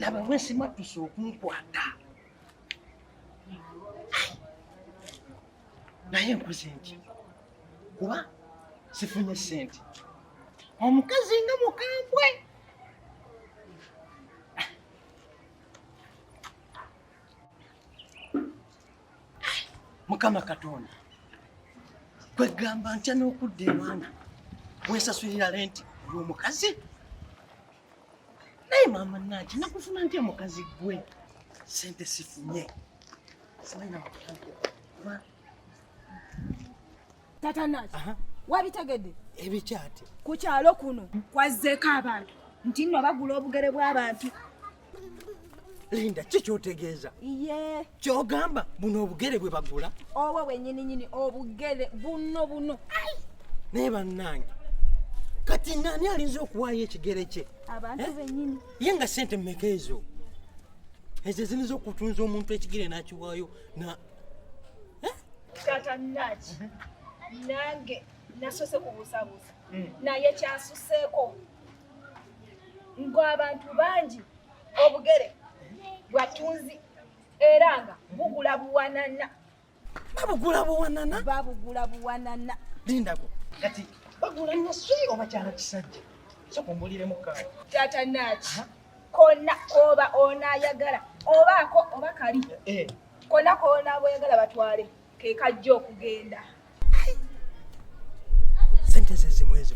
laba wesimattuse okunkwata naye nkoze nti kuba sifunye sente omukazi nga mukambwe mukama katonda kwegamba ntya n'okudda ewana wesasulira lenti olwomukazi naye maama naki nakufuna ntya mukazi gwe sente sifunye simanyi nakutankuba tata naki wabitegedde ebikyate ku kyalo kuno kwazzeeko abantu nti nno bagula obugere bw'abantu linda ki kyotegeeza ye kyogamba buno obugere bwe bagula obwo bwenyininyini obugere buno buno naye bannange kati nani alinza okuwaayo ekigere kye abantu eh? benyini ye nga sente mumeka ezo ezo eziniza okutunza omuntu ekigere n'akiwaayo na eh? tata naki mhm. nange nasose kubusabusa mm. naye kyasuseko ngo abantu bangi obugere bwatunzi era nga bugula buwanana babugula buwanana babugula buwanana lindako kati bagula naswi obakyala kisajja sokumbuliremu kawa tata naki konna kooba onaayagala obaako oba kali eh. konna koonaboyagala batwale kekajja okugenda sente zezimu ezo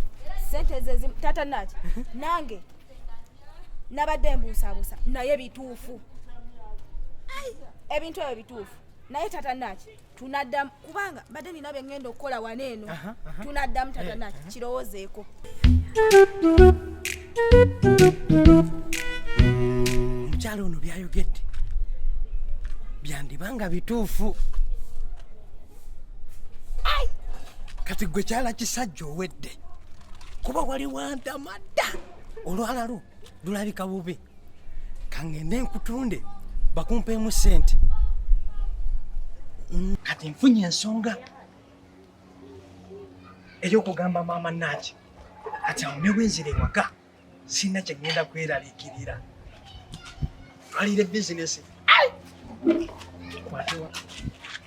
sente zezimu tata naki mhm. nange nabadde mbuusabuusa naye bituufu ebintu ebyo bituufu naye tata naki tunaddamu kubanga badde nina bye ŋŋenda okukola wano eno tunaddamu tata naki eh, eh. kirowoozeeko omukyalo ono byayogedde byandiba nga bituufu kati gwe kyala kisajja owedde kuba wali wantama dda olwalalo lulabika bubi kangende nkutunde bakumpeemu sente mm. kati nfunye ensonga eyokugamba maama naki kati awo newenzira ewaka sirina kyegenda kweralikirira twalire bizinesi kwatiwa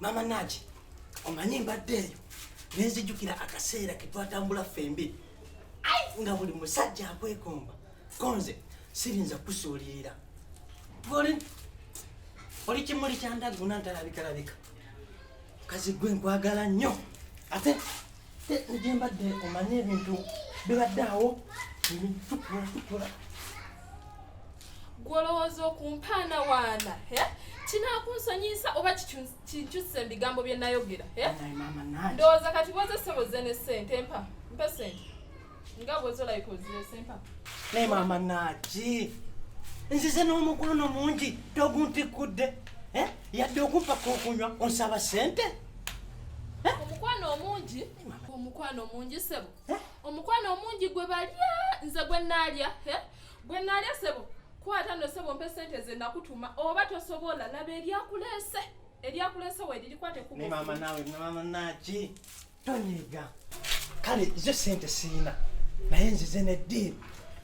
Mama Naji, omanyi mbadde eyo nenzijukira akaseera ke twatambula ffembi nga buli musajja akwekomba konze sirinza kusuulirira oli oli kimuli kyandaguna ntalabikalabika kazi gwe nkwagala nnyo ate gye mbadde omanye ebintu bibadde awo ebintukulatukola gwolowooza okumpaana waana kinakunsonyiyisa oba kinkyusa ebigambo bye nayogera ndowooza kati bwoza sebo ze ne sente mpa mpa sente nga bwezolabika ozire sempa naye maama naaki nzize n'omukwano mungi toguntikkudde eh? yadde okumpaka okunywa onsaba sente eh? omukwano omungi omukwano omungi sebo eh? omukwano omungi gwe balya nze gwe naalya gwe naalya sebo kwata no sebo mpe sente ze nakutuma oba tosobola laba eryakuleese eryakuleese weririkwate kumaama naawe maama naaki tonyiiga kale ze sente siina naye nzize ne deal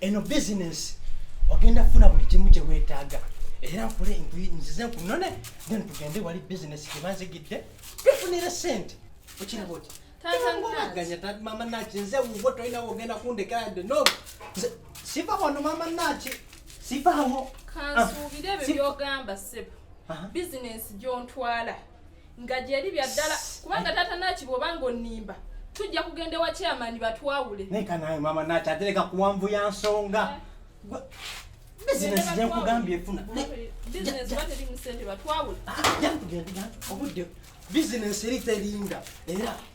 eno bizinesi ogenda funa buli kimu kye weetaaga era nkule nzize nkunone then tugende wali bizinesi gye banzigidde tufunire sente okiraba oti tanganya tati mama naki nze wuwo tolina wogenda kundekera de no siva wano mama naki sivawo kansuubire ah, ebyo byogamba sebo bizinesi gyontwala nga gyeri bya ddala kubanga taata naki bwoba nga onimba tujja kugenda ewa chairman batwawule neka naye mama naki atereka kuwanvu ya nsonga eh. bizinesi gyenkugambye efuna ah, bizinesi eri terinda era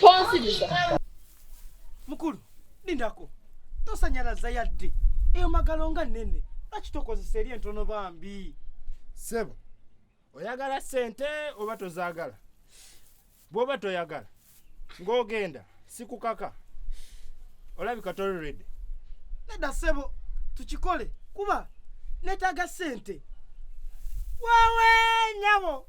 Tonsibiza. Mukulu, lindako. Tosanyalaza yadde. Eyo magalo nga nene. Lwaki tokozesa eri entono bambi? Sebo, oyagala sente oba tozaagala? Bw'oba toyagala ng'ogenda sikukaka olabika tolredi nedda ssebo tukikole kuba neetaaga ssente wawe nyabo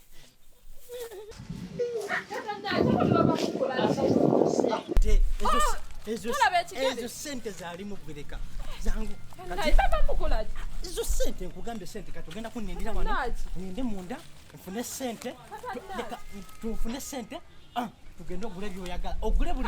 ezo sente zali mugwireka zangu ezo sente nkugambye sente kati ogenda kunindira wano ninde munda nfune sente tufune sente ah, tugende ogule byoyagala ogule buli